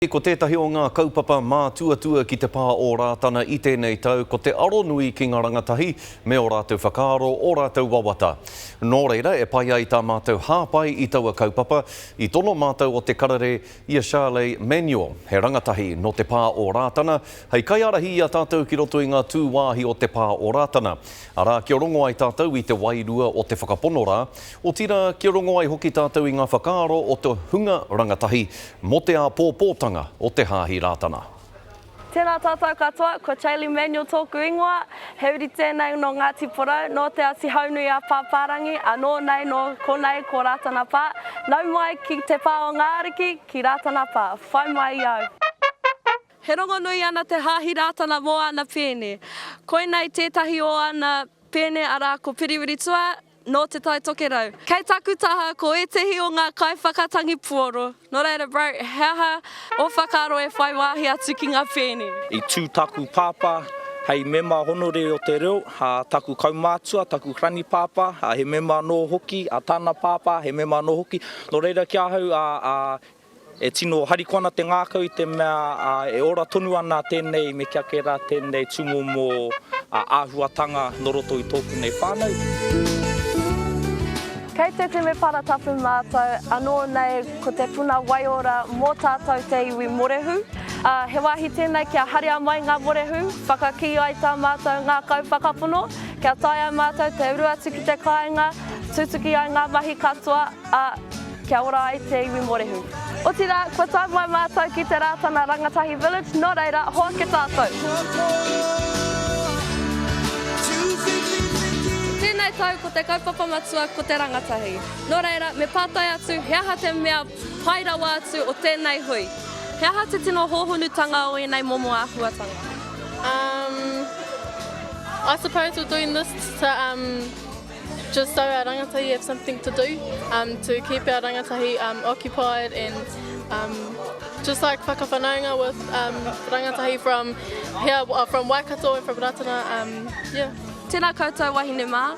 Māori ko tētahi o ngā kaupapa mātuatua ki te pā o Rātana i tēnei tau ko te aronui ki ngā rangatahi me ō rātou whakaaro, ō rātou wawata. Nō reira, e pai ai tā mātou hāpai i taua kaupapa, i tono mātou o Te Karere i a Sharley Manuel, he rangatahi nō te pā o Rātana, hei kaiārahi i a tātou ki roto i ngā tūwāhi o te pā o Rātana. Arā, kia rongo ai tātou i te wairua o te whakapono rā, Otirā, kia rongo ai hoki tātou i ngā whakaaro o te hunga rangatahi mō te āpōpōtanga o te Hāhi Rātana. Tēnā tātou katoa, ko Chailey Manuel tōku ingoa, he uri tēnei nō Ngāti Porou, nō Te Āti Haunui-a-Pāpārangi, anō nei nō konei ko Rātana Pā, nau mai ki te pā o ngā ariki, ki Rātana Pā, whai mai i au. He rongonui ana te Hāhi Rātana mō ana pēne. Koinei tētahi o ana pēne arā ko Piriwiritua, Nō Te Tai Tokerau. Kei taku taha ko ētehi o ngā kaiwhakatangi puoro. Nō reira bro, he aha ō whakaaro e whai wāhi atu ki ngā pēni? I tū taku pāpā hei mema honorere o te reo, ā, taku kaumātua, taku granipāpā, ā, he mema anō hoki, ā, tāna pāpā, he mema anō hoki. Nō reira ki ahau, ā, ā, E tino harikoa ana te ngākau i te mea e ora tonu ana tēnei me kia kē rā tēnei tūmomo āhuatanga nō roto i tōku nei whānau. Kei te temepara tapu mātou, anō nei ko te puna waiora mō tātou te iwi Morehu. He wāhi tēnei kia haria mai ngā morehu, whakakī ai tā mātou ngākau whakapono, kia tae ai mātou te uru atu ki te kāinga, tutuki ai ngā mahi katoa, Ā, kia ora ai te iwi Morehu. Otirā, kua tae mai mātou ki te Rātana Rangatahi Village, nō reira, hoake tātou! Tēnei tau ko te kaupapa matua ko te rangatahi. Nō reira, me pātai atu he aha te mea pai rawa atu o tēnei hui? He aha te tino hōhonutanga o ēnei momo āhuatanga? Umm, I suppose we're doing this to umm. Just so our rangatahi have something to do um, to keep our rangatahi um, occupied and um, just like whakawhanaunga with um, rangatahi from here, uh, from Waikato and from Ratana. Um, yeah. Tēnā koutou wahine mā.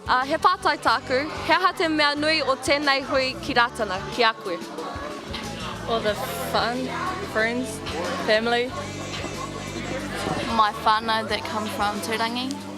Uh, he pātai tāku, he aha te mea nui o tēnei hui ki Ratana, ki a koe? All the fun, friends, family. My whānau that come from Tūrangi.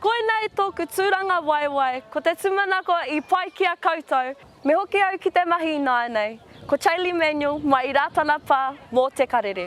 Koinei tōku tūranga waewae, ko te tūmanako i pai ki a koutou. Me hoki au ki te mahi ināianei. Ko Chailey Manuel mai i Rātana Pā mō Te Karere.